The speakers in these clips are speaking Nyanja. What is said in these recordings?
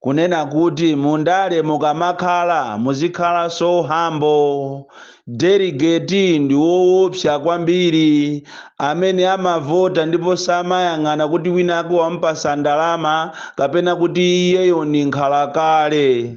kunena kuti mundale mukamakhala muzikhala so humble delegate ndi woopsa kwambiri amene amavota ndipo samayang'ana kuti winawake wamupasa ndalama kapena kuti iyeyo ndi nkhalakale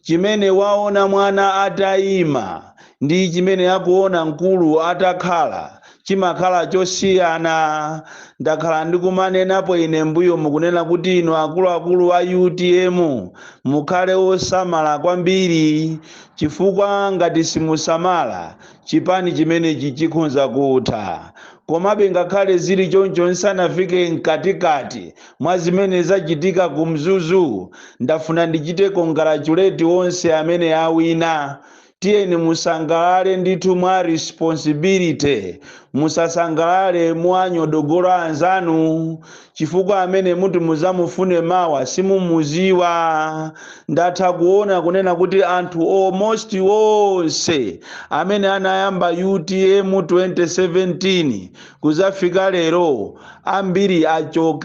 chimene waona mwana atayima ndi chimene akuona mkulu atakhala chimakhala chosiyana. Ndakhala ndikumanenapo ine mbuyomu kunena kuti inu akuluakulu a utm mukhale osamala kwambiri chifukwa ngati simusamala chipani chimenechi chikhonza kutha. Komabe ngakhale zili choncho nsanafike mkatikati mwa zimene zachitika ku Mzuzu ndafuna ndichite congratulate onse amene awina. tiyeni musangalale ndithu mwa responsibility musasangalale mowanyodola anzanu chifukwa amene muti muzamufune mawa simumuziwa ndatha kuona kunena kuti anthu almost onse amene anayamba utm 2017 Kudzafika lero, ambiri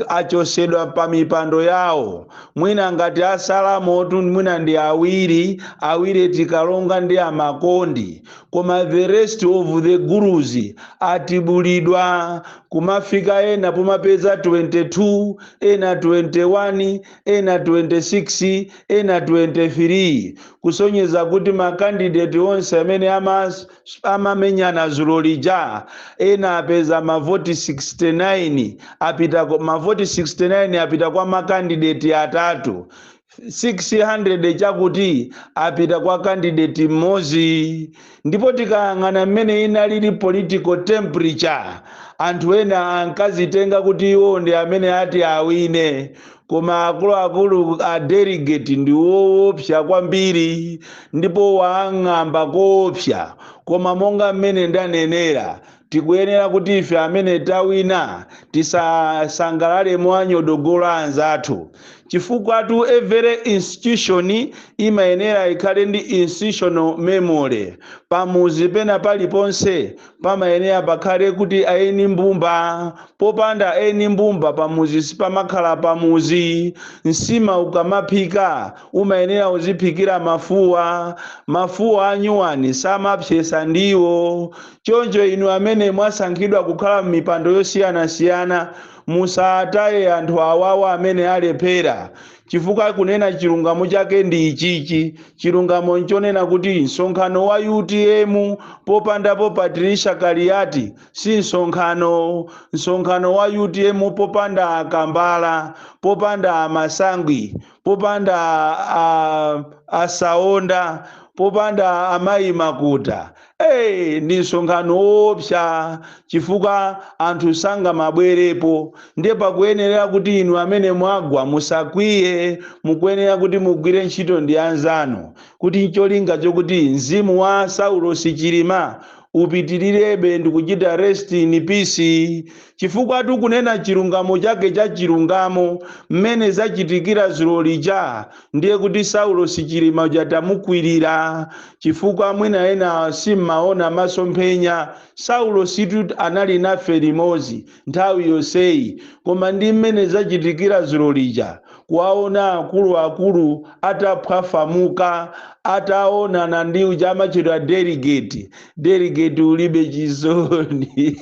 achosedwa pa mipando yawo. Mwina ngati asalamo tu mwina ndi awiri, awiri eti Kalonga ndi a Makondi. Koma the rest of the gurus atibulidwa. Kumafika ena pomapeza 22, ena 21, ena 26, ena 23. Kusonyeza kuti ma candidate onse amene amas. amamenyana zulo lija ena apeza mavoti 69 apita ku- mavoti 69 apita kwa makandideti atatu 600 chakuti apita kwa kandideti mmodzi ndipo tikayang'ana mmene inalili political temperature anthu ena ankazitenga kuti iwo ndi amene ati awine koma akuluakulu a delegate ndi woopsa kwambiri ndipo wang'amba koopsa koma monga mmene ndanenera tikuyenera kuti ife amene tawina tisasangalale mowanyodola anzathu chifukwatu every institution imayenera ikhale ndi institutional memory pamuzi pena paliponse pamayenera pakhale kuti aeni mbumba popanda aeni mbumba pamuzi sipamakhala pamuzi nsima ukamaphika umayenera uziphikira mafuwa mafuwa anyuwani samapsesa ndiwo choncho inu amene mwasankhidwa kukhala m'mipando yosiyanasiyana musataye anthu awawa amene alephera Chifukwa kunena chilungamo chake ndi ichichi, chilungamo nchonena kuti msonkhano wa utm popandapo Patricia Kaliati si msonkhano, msonkhano wa utm popanda a Kambala, popanda a Masangwi, popanda a a Saonda, popanda a Mayi Makuta Ndi msonkhano woopsa chifukwa anthu sangamabwerepo ndiye pakuyenera kuti inu amene mwagwa musakwiye mukuyenera kuti mugwire ntchito ndi anzanu kuti ncholinga chokuti mzimu wa saulosi chilima upitilirebe ndikuchita rest in peace chifukwa kunena chilungamo chake cha chilungamo mmene zachitikira dzulo lija ndiye kuti saulosi chilima uja tamukwirira chifukwa mwina ena simmaona masomphenya saulositu anali nafe limodzi nthawi yonseyi koma ndi mmene zachitikira dzulo lija kuwaona akuluakulu ataphwafamuka ataonana ndi uja amatchedwa delegate delegate ulibe chisoni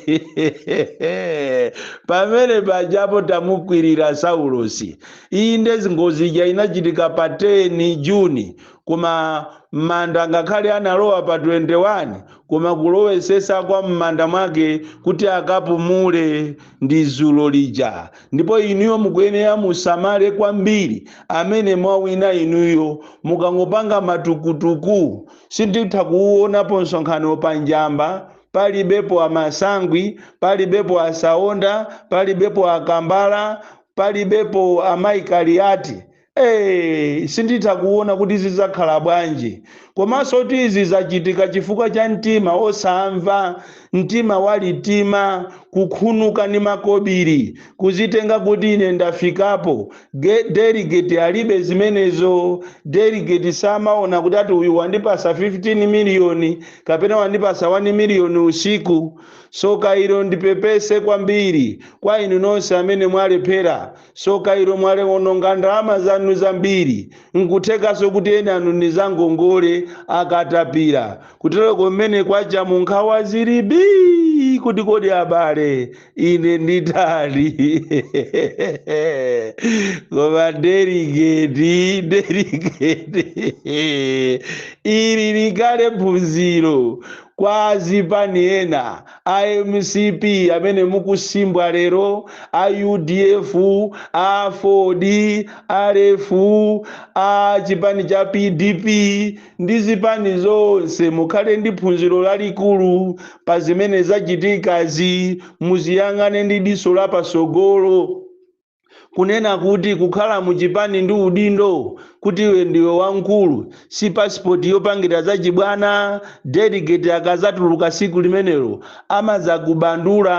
pamene pajapo tamukwirira saulosi Inde, ngozi ija inachitika pa 10 June, koma m'manda ngakhale analowa pa 21, koma kulowetsetsa kwa m'manda mwake kuti akapumule ndi dzulo lija. Ndipo inuyo mukuyenera musamale kwambiri amene mwawina inuyo. Mukangopanga matukutuku, sinditha kuuonapo msonkhano pa Njamba palibepo a Masangwi, palibepo a Saonda, palibepo a Kambala, palibepo amayi kaliati ee sinditha kuona kuti zidzakhala bwanji komanso kuti izi zachitika chifukwa cha mtima osamva mtima walitima kukhunuka ndi makobiri kuzitenga kuti ine ndafikapo delegate alibe zimenezo delegate samaona kuti ati uyu wandipasa 15 miliyoni kapena wandipasa 1 miliyoni usiku Tsoka ilo ndipepese kwambiri kwa inu nonse amene mwalephera. Tsoka ilo mwalewononga ndalama zanu zambiri. Nkuthekanso kuti ena anu ndi za ngongole, akatapira. Kuteroko mmene kwachamu nkhawa zili bii kuti kodi abale ine nditani? Koma deligeti, deligeti, ili likale phunziro. Kwa azipani ena a mcp amene mukusimbwa lero, a udf, a aford, a rf, a chipani cha pdp ndi zipani zonse mukhale ndi phunziro lalikulu pa zimene zachitikazi muziyang'ane ndi diso la patsogolo. Kunena kuti kukhala mu chipani ndi udindo, kuti iwe ndiwe wamkulu, si passport yopangira za chibwana, delegate akazatuluka siku limenelo amazakubandula,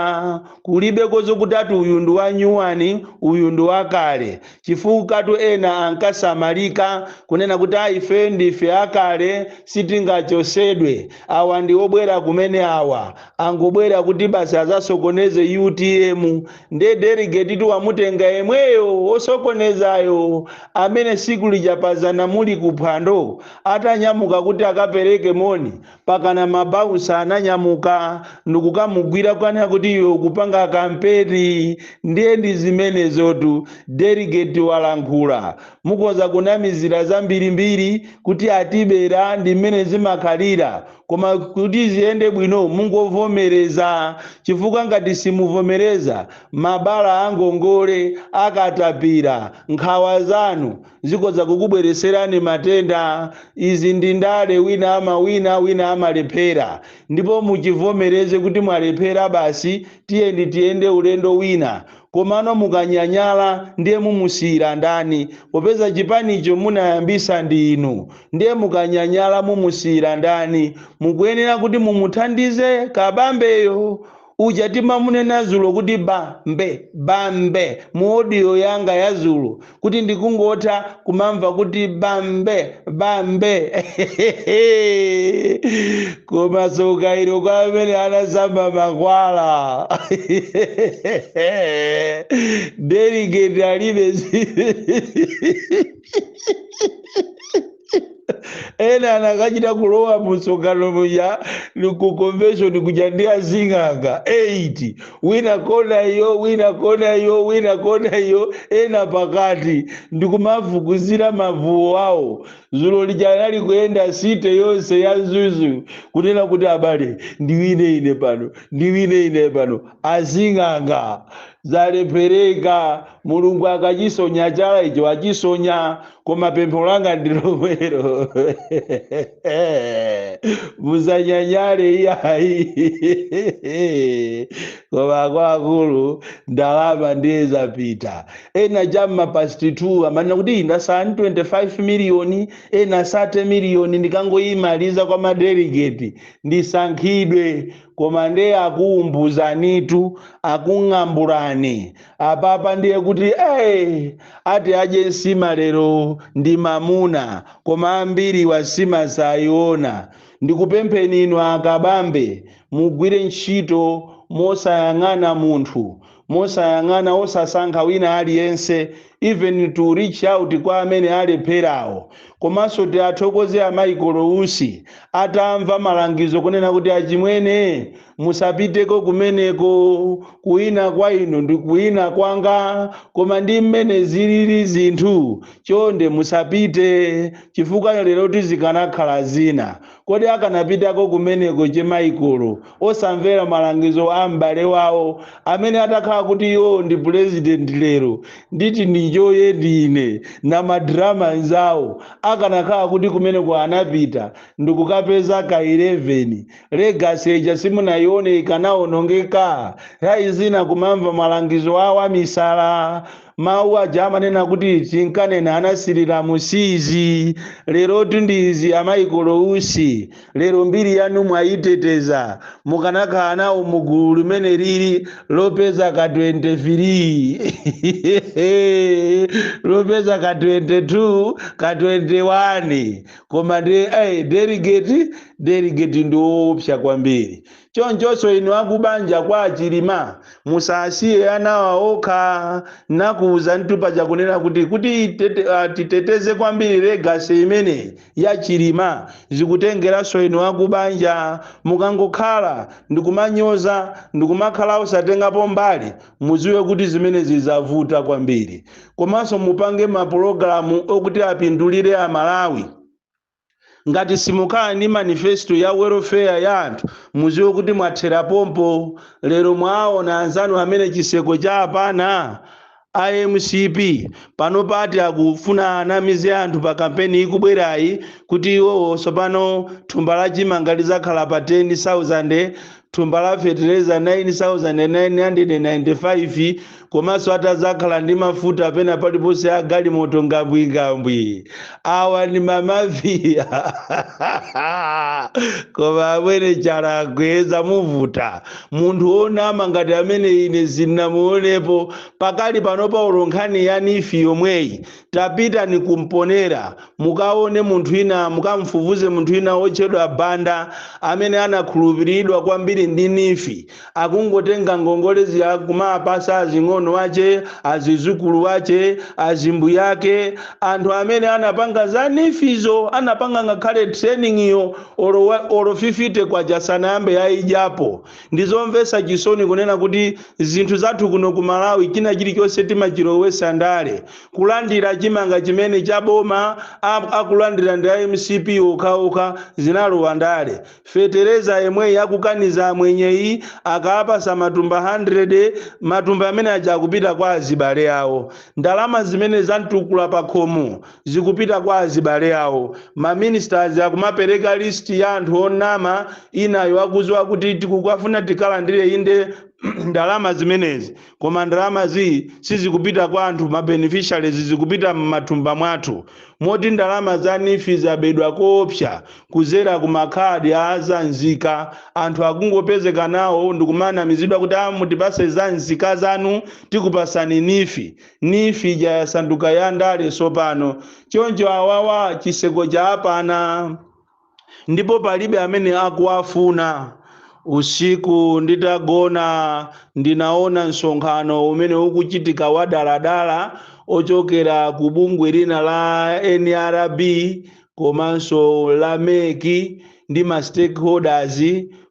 kulibeko zokuti ati uyu ndi wa nyuwani uyu ndi wakale, chifukatu ena ankasamalika kunena kuti a ifeyo ndife akale sitingachosedwe, awa ndi obwera kumene awa, angobwera kuti basi azasokoneze utm. nde deligetitu wamutenga yemweyo wosokonezayo amene tsiku lija pazana muli ku phwando atanyamuka kuti akapereke moni pakana mabausa ananyamuka ndikukamugwira kukanena kuti iwe ukupanga kampeni ndiye ndi zimenezotu deligeti walankhula mukoza kunamizira zambirimbiri kuti atibera ndi mmene zimakhalira koma kuti ziyende bwino mungovomereza chifukwa ngati simuvomereza mabala a ngongole za katapira nkhawa zanu zikoza kukubwereserani matenda izi ndi ndale wina amawina wina amalephera ndipo muchivomereze kuti mwalephera basi Tiyeni tiyende ulendo wina. Komano mukanyanyala ndiye mumusiyira ndani? Popeza chipanicho munayambisa ndi inu. Ndiye mukanyanyala mumusiyira ndani? Mukuyenera kuti mumuthandize Kabambeyo. Uja timamunena zulo kuti bambe, bambe mu audio yanga ya zulo. kuti ndikungotha kumamva kuti bambe bambe koma soka ilo kwa amene anasamba makwala deligeti alibe ena anakachita kulowa mumsonkhano muja ku convention kuja ndi azing'anga 8 wina kona iyo wina kona iyo wina kona iyo ena pakati ndikumavukuzira mavuwo awo zulo lija anali kuyenda city yonse ya Mzuzu kunena kuti abale ndiwine ine pano ndiwine ine pano azing'anga zalephereka Mulungu akachisonya chala icho achisonya, koma pempho langa ndi lomwelo. Musanyanyale iyayi. Koma akuluakulu ndalama ndiye zapita. Ena cha m'ma past 2 amanena kuti ndasala ndi 25 miliyoni, ena 30 miliyoni ndikangoyimaliza kwa madelegeti ndisankhidwe. Koma ndiye akuumbuzanitu, akung'ambulani. Apapa ndiye kuti ee! Ati adye nsima lero ndi mamuna, koma ambiriwa nsima saiona. Ndikupempheni inu a Kabambe, mugwire ntchito mosayang'ana munthu, mosayang'ana osasankha wina aliyense even to reach out kwa amene alepherawo komanso tiathokoze a Michael Usi atamva malangizo kunena kuti achimwene musapiteko kumeneko kuwina kwa inu ndi kuwina kwanga koma ndi mmene zilili zinthu chonde musapite chifukwa lero tikanakhala zina Kodi akanapitako kumeneko che Michael osamvera malangizo a m'bale wawo amene atakhala kuti iwo ndi president lero ndi ti ndinjoye ndine na madrama anzawo akanakhala kuti kumeneko anapita ndikukapeza ka 11 legacy ija simunayione ikanaonongeka? Nthawi zina kumamva malangizo a wamisala Mawu aja amanena kuti tinkanena anathira m'siizi lerotu ndi izi a Michael Usi lero mbiri yanu mwayiteteza mukanakhala nawo mu gulu limene lili lopeza ka 23 lopeza ka 22 ka 21 koma ndi eh, delegate delegate ndi woopsa kwambiri Chonchonso inu akubanja kwa a Chilima musasiye anawa okha nakuuzanitu paja kunena kuti kuti titeteze kwambiri legacy imeneyi ya Chilima zikutengeranso inu akubanja mukangokhala ndikumanyoza ndikumakhala osatengapo mbali muziwe kuti zimenezi zavuta kwambiri komanso mupange mapulogalamu okuti apindulire Amalawi Ngati simukhala ndi manifesto ya welfare ya anthu muziwe kuti mwathera pompo. Lero mwaawona anzanu amene chiseko cha apana a MCP panopa ati akufuna anamize anthu pa kampeni ikubwerayi kuti iwowo tsopano thumba la chimanga lidzakhala pa 10,000 thumba la fetereza 9995 komanso atazakhala ndi mafuta pena paliponse a galimoto ngambwingambwi awa ndi mamafiya koma amwene chala akweza muvuta munthu wonama ngati amene ine sindinamuonepo pakali panopa olo nkhani ya NEEF yomweyi tapitani ku Mponela mukaone munthu ina mukamfufuze munthu ina wotchedwa Banda amene anakhulupiriridwa kwambiri ndi NEEF akungotenga ngongole zija kumapasa azing'ono ache azizukulu ache azibwenzi ake anthu amene anapanga za NEEF-zo anapanga ngakhale training yo olo, wa- olo 50 kwacha sanayambe yaidyapo Ndi zomvetsa chisoni kunena kuti zinthu zathu kuno ku Malawi china chilichonse timachilowetsa ndale. Kulandira chimanga chimene cha boma akulandira ndi a mcp okhaokha zinalowa ndale. Fetereza yemweyi akukaniza amwenyeyi akawapatsa matumba 100 matumba amene aja akupita kwa azibale awo. Ndalama zimene za mtukula pakhomo. zikupita kwa azibale awo. Ma ministers akumapereka list ya anthu onama, inayo akuziwa kuti tikukafuna tikalandire inde ndalama zimenezi koma ndalama zi sizikupita kwa anthu ma beneficiaries zikupita m'mathumba mwathu moti ndalama za Neef zabedwa koopsa kuzera ku makhadi a zanzika anthu akungopezeka nawo ndikumanamizidwa kuti a mutipase zanzika zanu tikupasani Neef Neef ija yasanduka ya ndale sopano. Choncho awawa chiseko chaapana ndipo palibe amene akuwafuna. Usiku nditagona ndinaona nsonkhano umene ukuchitika wadaladala ochokera ku bungwe lina la nrb komanso la mec ndi ma stakeholders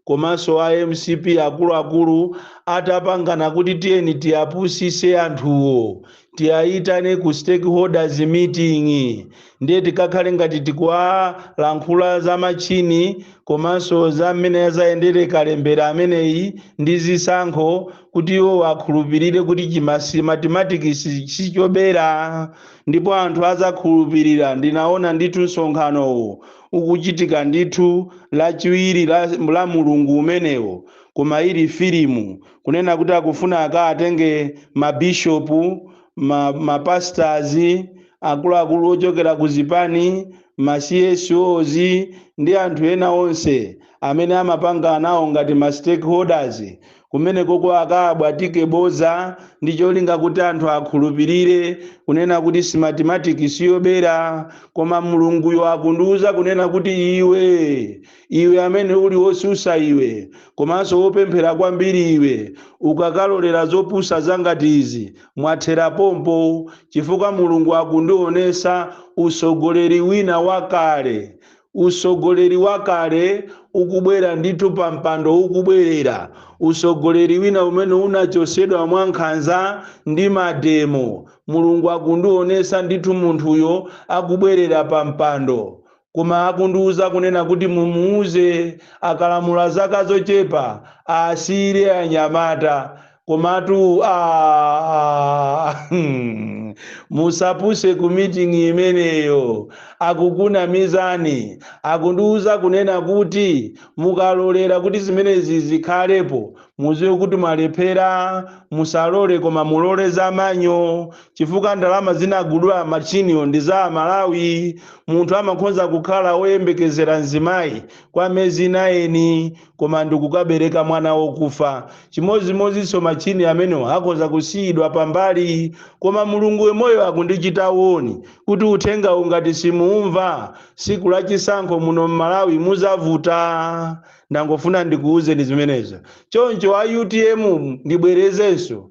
komanso a mcp akuluakulu atapangana kuti tiyeni tiyapusise anthuwo tiyayitane ku stakeholders meeting ndiye tikakhale ngati tikuwalankhula za machini komanso za mmene yazayendere kalembera ameneyi ndi zisankho kuti iwo akhulupirire kuti chima Smartmatic sichobera Ndipo anthu adzakhulupirira. Ndinaona ndithu msonkhanowo ukuchitika ndithu, Lachiwiri la mlungu umenewo, koma ili filimu, kunena kuti akufuna akaatenge mabishopu, mapastors, akuluakulu ochokera ku zipani, ma CSOs, ndi anthu ena onse amene amapanga nawo ngati ma stakeholders, Kumenekoko akaabwatike bodza ndi cholinga kuti anthu akhulupirire kunena kuti Smartmatic siyobera koma Mulunguyo akundiuza kunena kuti iwe, iwe amene uli wosusa iwe komanso wopemphera kwambiri iwe ukakalolera zopusa zangati izi mwathera pompo chifukwa Mulungu akundionesa utsogoleri wina wakale Utsogoleri wakale ukubwera ndithu pa mpando ukubwerera, utsogoleri wina umene unachotsedwa mwa nkhanza ndi mademo, Mulungu akundionetsa ndithu munthuyo akubwerera pa mpando. Koma akundiuza kunena kuti mumuuze akalamula zaka zochepa asiyire anyamata. komatu aa, hmm, musapuse ku meeting imeneyo akukunamizani akundiuza kunena kuti mukalolera kuti zimenezi zikhalepo muziwe kuti mwalephera musalole koma mulole za manyo chifukwa ndalama zinagula machiniyo ndi za amalawi munthu amakhonza kukhala woyembekezera mzimayi kwa miyezi 9 koma ndikukabereka mwana wokufa. Chimodzimodzinso machini amenewa akhoza kusiyidwa pambali, koma Mulungu wamoyo akundichita woni kuti uthengawu ngati simuumva, tsiku la chisankho muno m'Malawi mudzavuta. Ndangofuna ndikuuzeni zimenezo. Choncho a utm ndibwerezenso,